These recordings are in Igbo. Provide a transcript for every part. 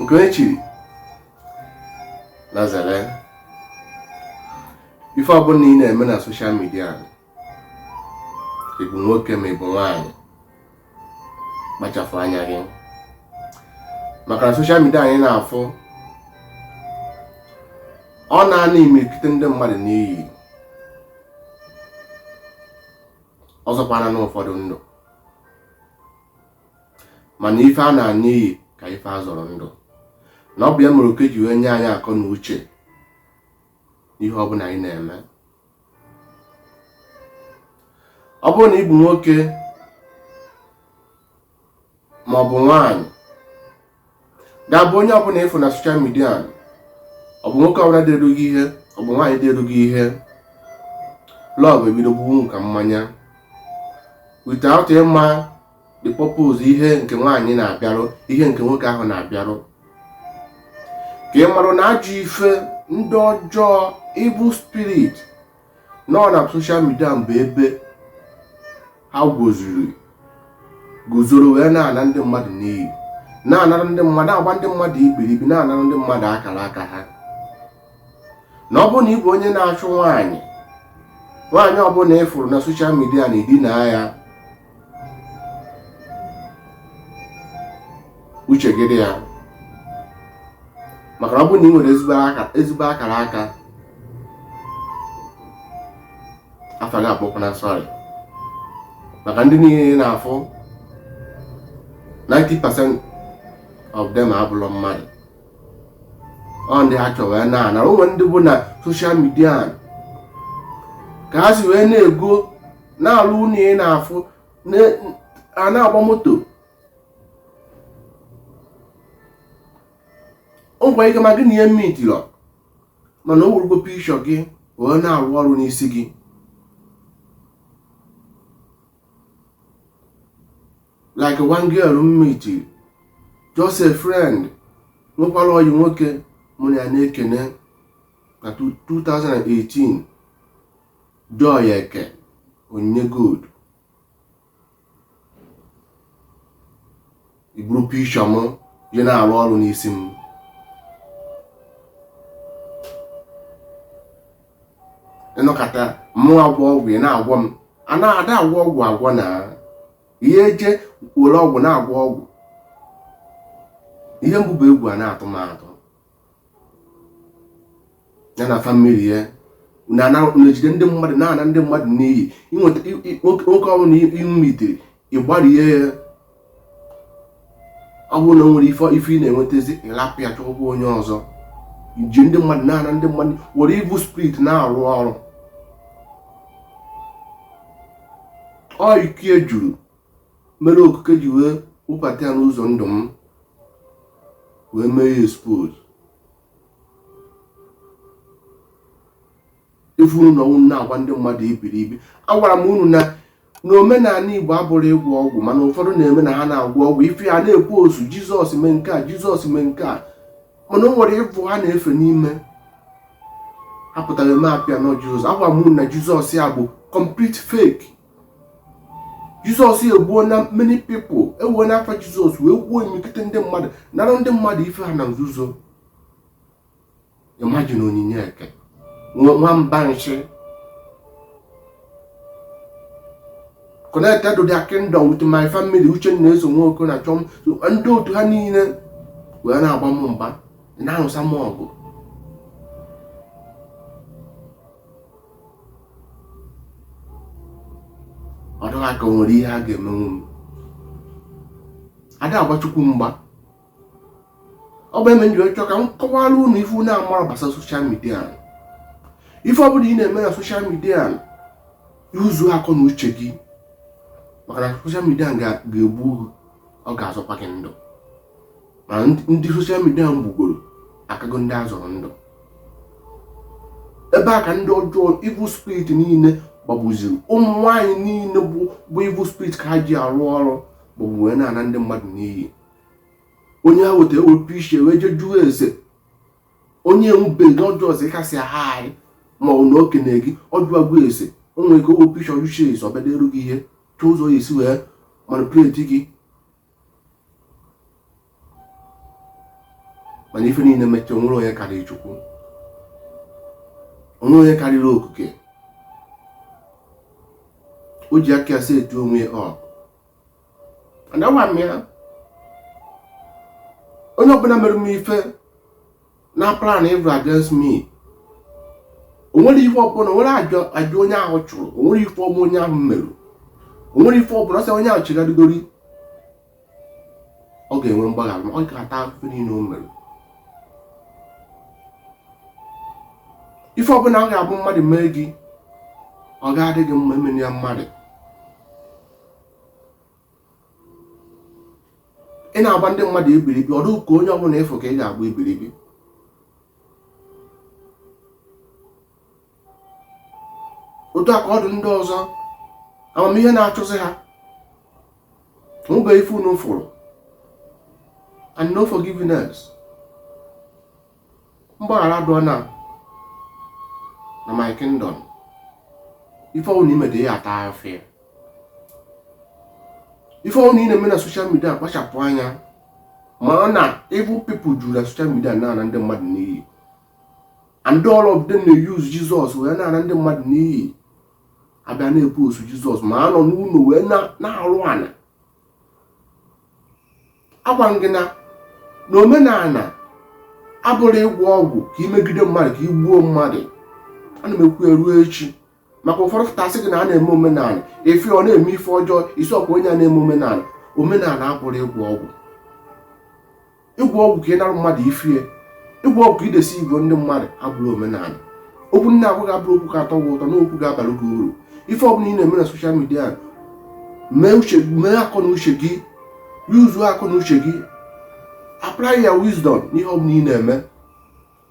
nke e chiri na zere ife ọbụla ị na-eme na soshal midia ị bụ nwoke ma ị bụ nwaanyị kpachapụ anya gị maka na soshal midia anyị na-afụ ọ na-ana imirikite ndị mmadụ n'iyi ọ zọkwanụ ụfọdụ ndụ mana ife a na-ana n'iyi ka ife a zọrọ ndụ na ọ bụ ya mere oke ji wee nye anyị akọ na uche ihe ọ bụla anyị na-eme ọ bụrụ na ị bụ nwoke ma ọ bụ nwaanyị ga-abụ onye ọbụla ị fụ na soshal midia ọ bụ nwoke ọbụla deerụ gị ihe ọ bụ nwaanyị deerụ gị ihe lọv ebido gbuwe unu ka mmanya without ịma the purpose ihe nke nwaanyị na-abịarụ ihe nke nwoke ahụ na-abịarụ ka ị marụ na ajọ ife ndị ọjọọ evil spirit nọ na soshal midia bụ ebe ha guzoro guzoro wee na-ana ndị mmadụ n'iyi na-anara ndị mmadụ agba ndị mmadụ ikpiribi na-anara ndị mmadụ akara aka ha na ọ bụrụ na ị bụ onye na-achụ nwaanyị nwaanyị ọbụla ị fụrụ na soshal midia na ị dinaa ya uche gị dị ya maka na ọ bụrụ na ị nwere ezigbo akara aka afa gị abụkwana sọrị maka ndị niile ị na-afụ 90% of them abụlọ mmadụ ọ ndị ha chọrọ wee na-ana o nwe ndị bụ na soshal midia ka ha si wee nwee ego na-alụ ụlọ ị na-afụ a na-agba moto o nwere ike ma gị na ya emitirọ mana o werugwo pikshọ gị wee na-arụ ọrụ n'isi gị like one girl m miti just a friend nwekwara ọyị nwoke mụ na ya na-ekene na 2018 Joy Eke Onyinye Gold i buru pikshọ m je na-arụ ọrụ n'isi m ị nọkata mụ agwọ ọgwụ ị na-agwọ m a na-ada agwọ ọgwụ agwọ na ihe eje were ọgwụ na-agwọ ọgwụ ihe mbụ bụ egwu a na-atụ m atụ ya na famili ya na-ejide ndị mmadụ na-ana ndị mmadụ n'iyi inweta nwoke ọbụla i mitiri ị gbarie ya ọ bụrụ na o nwerọ ife ị na-enwetazi ị lapụ ya chọkwa onye ọzọ ji ndị mmadụ na-ana ndị mmadụ were evil spirit na-arụ ọrụ ọ iko ya juru mere okike ji wee wụbata ya n'ụzọ ndụ m wee mee ya expose ife unu na unu na-agwa ndị mmadụ ibiri ibi agwara m unu na omenala igbo abụrọ ịgwọ ọgwụ mana ụfọdụ na-eme na ha na-agwọ ọgwụ ife a na-ekwu ọsọ jizọs mee nke a jizọs mee nke a mana o nwere evil ha na-efe n'ime apụtara eme appear na ọ jizọs agwara m unu na jizọs ya bụ complete fake jizọs egbuona many people ewena afa jizọs wee gbuo imikite ndị mmadụ nara ndị mmadụ ife ha na nzuzo imagine onyinye eke nwamba nchi connected to their kingdom with my family uche na eso nwoke na chọm ndị otu ha niile wee na-agba m mgba na-arụsa m ọgụ ọ dị ha ka o nwere ihe ha ga-emenwu m ada agba chukwu mgba ọ bụ ya mere m jiri chọọ ka m kọwara unu ife unu amarọ gbasara soshal midia ife ọ bụla ị na-eme na soshal midia yuzuo akọ na uche gị maka na soshal midia ga-egbu ọ ga-azọkwa gị ndụ ma ndị soshal midia gbugoro akago ndị a zọrọ ndụ ebe a ka ndị ọjọọ evil spirit niile gbabaziri ụmụ nwaanyị niile bụ evil spirit ka ha ji arụ ọrụ bụ wee na-ana ndị mmadụ n'iyi onye ha weta ewepụ ishi ya wee jee jụọ ese onye enwubeghị na ọjọọ ọzọ ị ka sị hi ma ọ na o kene gị ọ jụwa gị ese o nwere ike o wepụ ishi ya ọ jụcha ese ọ bịa eru gị ihe chọọ ụzọ ọ ya-esi wee manipuleti gị mana ife niile mechaa o nwerọ onye karịrị chukwu o nwerọ onye karịrị okike o ji aka ya set onwe ya up and agwa m ya onye ọbụla mere m ife na plan evil against me o nwerọ ife ọbụla o nwerọ aja onye ahụ chụrụ o nwerọ ife ọbụla onye ahụ merụ o nwerọ ife ọbụla sọ onye ahụ chegharịgori ọ ga-enwe mgbaghara ma ọ ga-ata afụfụ niile o mere ife ọbụla ọ ga-abụ mmadụ mee gị ọ ga-adị gị mma emena ya mmadụ ị na-agba ndị mmadụ ebiribi ọdụ ka onye ọbụla ị fụ ka ị ga-agba ebiribi otu a ka ọ dị ndị ọzọ amamihe na-achụzi ha mụba ife unu fụrụ and no forgiveness mgbaghara adịrọ na na my kingdom ife ọbụla i mete ị ya-ata afụfụ ya ife ọbụla ị na-eme na social media kpachapụ anya maka na evil people juru na social media na-ana ndị mmadụ n'iyi and all of them na-eyuzu jizọs wee na-ana ndị mmadụ n'iyi a bịa na-epu osu jizọs ma a nọ n'ụlọ wee na-arụ ana agwa m gị na na omenala abụrọ ịgwọ ọgwụ ka i megide mmadụ ka i gbuo mmadụ ana m ekwu eruo echi maka ụfọdụ fụta sị gị na a na-eme omenala ị fụ ọ na-eme ife ọjọọ ị sị ọkwa onye a na-eme omenala omenala abụrọ ịgwọ ọgwụ ịgwọ ọgwụ ka ị nara mmadụ ife ya ịgwọ ọgwụ ka ị deceive ndị mmadụ abụrọ omenala okwu m na-agwa gị abụrọ okwu ga-atọ gị ụtọ na okwu ga-abara gị uru ife ọbụla ị na-eme na social media mee uche mee akọ na uche gị yuzuo akọ na uche gị apply ya wisdom n'ihe ọbụla ị na-eme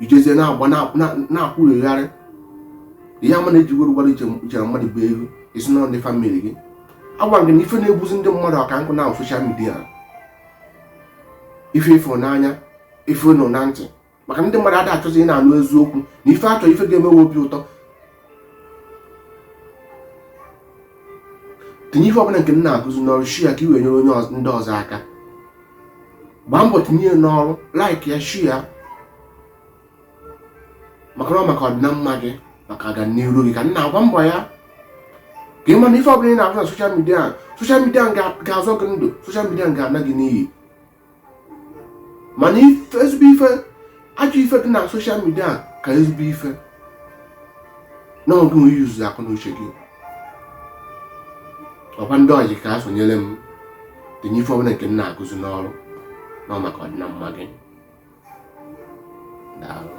i jezie na-agba na-akwụghegharị ihe ama na-ejiwere ụgbara ichere mmadụ bụ elu isi na ndị family gị agwa gị na ife na-egbuzi ndị mmadụ ọka nkụ na social media ife ị fụ n'anya ife ị nụ na ntị maka ndị mmadụ ada achọzi ị na-anụ eziokwu na ife a chọ ife ga-eme ha obi ụtọ tinye ife ọbụla nke m na-akụzi n'ọrụ share ya ka i wee nyere onye ọz- ndị ọzọ aka gbaa mbọ tinye ya n'ọrụ like ya share ya maka na ọ maka ọdịna mma gị maka ọganiru gị ka m na-agba mbọ ya ka ị ma na ife ọbụla ị na-ahụ na social media social media ga-azọ gị ndụ social media ga-ana gị n'iyi mana ezigbo ife ajọ ife dị na social media ka ezigbo ife na ọ gị yuzu akọ na uche gị ọkwa ndị ojii ka a sonyere m tinye ife ọbụla nke m na-akụzi n'ọrụ na ọ maka ọdịna mma gị daalụ